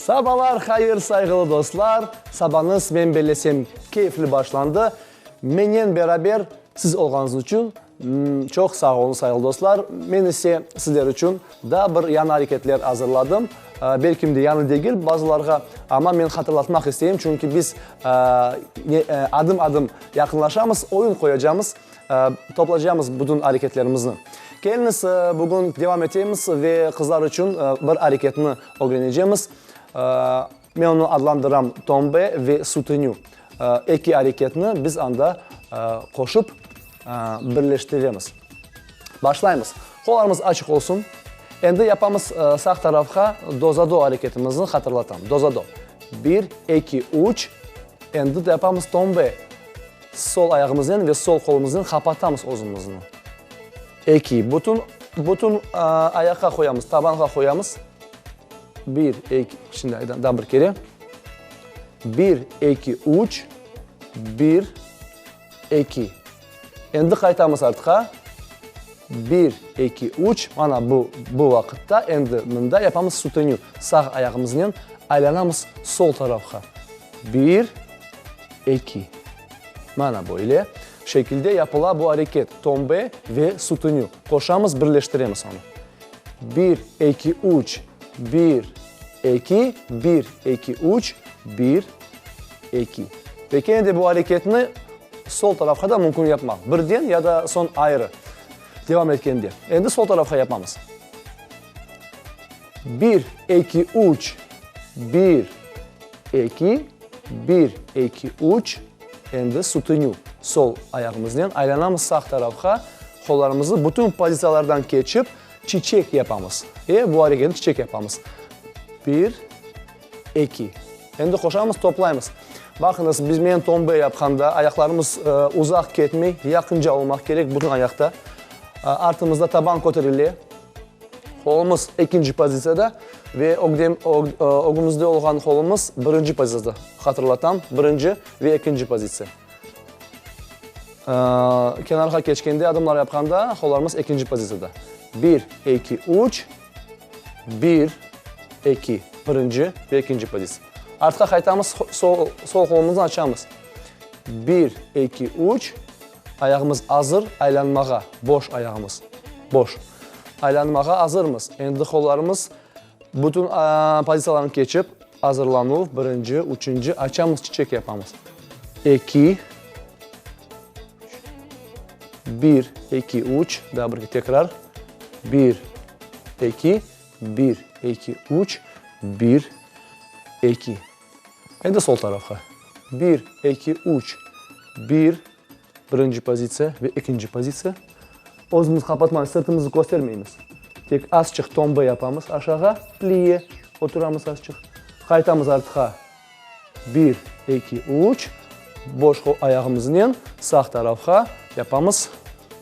Sabalar hayır sayğılı dostlar, sabanıs men bellesem keyfli başlandı, menen beraber siz olğanız içün çoq sağ olun sayğılı dostlar, men ise sizler içün daa bir yañı areketler azırladım, belkim de yañı degil bazılarğa, amma men hatırlatmaq isteyim, çünki biz adım adım yaqınlaşamız, oyun qoyacamız, Toplaycamız bütün areketlerimizni. Keliniz, bugün devam etemiz ve qızlar içün bir areketni ögrenecemiz. Men onı adlandıram tombe ve sutinü. Eki areketni biz anda qoşıp birleştiremiz. Başlaymız. Qollarımız açıq olsun. Endi yapamız sağ tarafqa dozado areketimizni hatırlatam. Dozado. Bir, eki, üç. Endi de yapamız tombe. Sol ayağımıznen ve sol qolumıznen qapatamız özümizni. Eki, bütün, bütün ayaqqa qoyamız, tabanğa qoyamız. Bir, eki, şimdi aydan, daa bir kere. Bir, eki, üç, bir, eki. Endi qaytamız artqa. Bir, eki, üç, mana bu, bu vaqıtta endi mında yapamız sutenü, sağ ayağımıznen aylanamız sol tarafqa. Bir. Eki. Mana böyle şekilde yapıla bu areket, tombe ve sütünü. Qoşamız, birleştiremiz onı. Bir, eki, üç, bir, eki, bir, eki, üç, bir, eki. Ve kene de bu areketni sol tarafqa da mümkün yapmaq, birden ya da soñ ayrı devam etkende. Endi sol tarafqa yapamız. Bir, eki, üç. Bir, eki, bir, eki, üç. Endi sütünü sol ayağımıznen aylanamız sağ tarafqa, qollarımızı bütün pozisiyalardan keçip, çiçek yapamız. E, bu areketni çiçek yapamız. Bir, eki. Endi qoşamız, toplaymız. Baqıñız, biz, men tombe yapqanda, ayaqlarımız uzaq ketmey, yaqınca olmaq kerek bütün ayaqta. Artımızda taban köterile. Qolumız ekinci pozitsiyada ve ögümizde olğan qolumız birinci pozitsiyada. Hatırlatam, birinci ve ekinci pozitsiya. Kenarğa keçkende, adımlar yapqanda qollarımız ekinci pozitsiyada. Bir, eki, üç, bir, eki, birinci ve ekinci pozitsiya. Artqa qaytamız, sol qolumızı açamız. Bir, eki, üç. Ayağımız azır aylanmağa, boş ayağımız, boş. Aylanmağa azırmız, endi qollarımız bütün pozitsiyalrnı keçip, azırlanuv, birinci, üçünci, açamız, çiçek yapamız. Eki, üç, bir, eki, üç, daa birge, tekrar, bir, eki, bir, eki, üç, bir, eki, Endi sol tarafqa. Bir, eki, üç. Bir, birinci pozitsiya ve ekinci pozitsiya. Özümüz qapatma, sırtımızı köstermeymiz. Tek azçıq tomba yapamız aşağa, plie, oturamız azçıq. Qaytamız artqa. Bir, eki, üç. Boş qol ayağımıznen sağ tarafqa yapamız.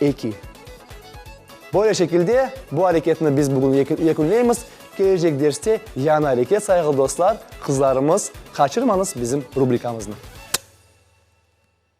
Eki. Böyle şekilde bu areketni biz bugün yekünleymiz. Kelecek derste yañı areket sayğılı dostlar, qızlarımız, qaçırmañız bizim rubrikamıznı.